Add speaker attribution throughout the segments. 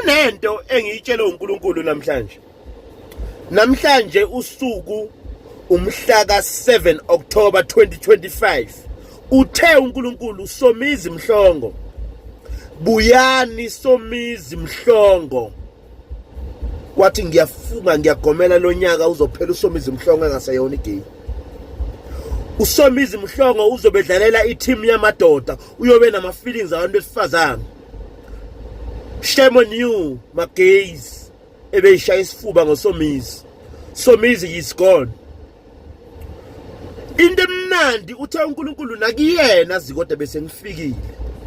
Speaker 1: kunento engiyitshelwe uNkulunkulu namhlanje namhlanje usuku umhla ka-7 October 2025 uthe uNkulunkulu Somizi Mhlongo buyani Somizi Mhlongo wathi ngiyafunga ngiyagomela lonyaka uzophela uSomizi Mhlongo engaseyona igame uSomizi Mhlongo uzobedlalela i-team yamadoda uyobe nama-feelings abantu besifazane Shame on you, my gays. Ebeyishaya isifuba ngosomizi. Somizi is gone. Into emnandi uthe uNkulunkulu nakuyena zikode bese ngifikile.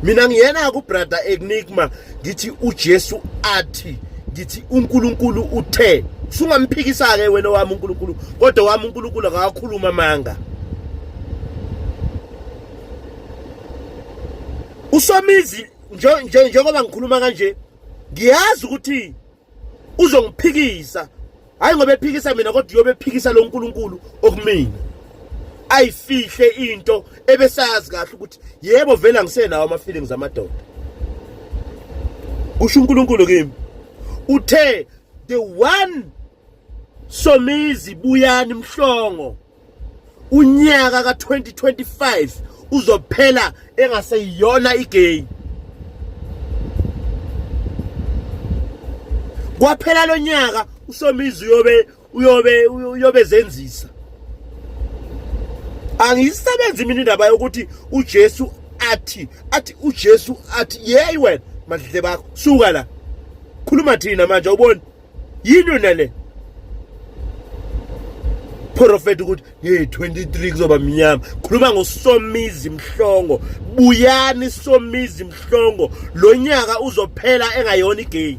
Speaker 1: Mina ngiyena ku brother Enigma ngithi uJesu athi ngithi uNkulunkulu uthe sungamphikisa ke wena wami uNkulunkulu kodwa wami uNkulunkulu akakhuluma manga. usomizi njengoba ngikhuluma kanje ngiyazi ukuthi uzongiphikisa hayi ngoba ephikisa mina kodwa uyobe ephikisa lo nkulunkulu okumina ayifihle into ebesazi kahle ukuthi yebo vele angisenawo ama-feelings amadoda kusho unkulunkulu kimi uthe the one somizi buyani mhlongo unyaka ka2025 uzophela engaseyiyona igay kwaphela lonyaka usomizi uyobe uyobe uyobe zenzisa angiyisebenzi mina indaba yokuthi uJesu athi athi uJesu athi yeyi wena madle bakho suka la khuluma thina manje ubona yini yona le profeta ukuthi hey 23 kuzoba mnyama khuluma ngosomizi mhlongo buyani somizi mhlongo lo nyaka uzophela engayona igame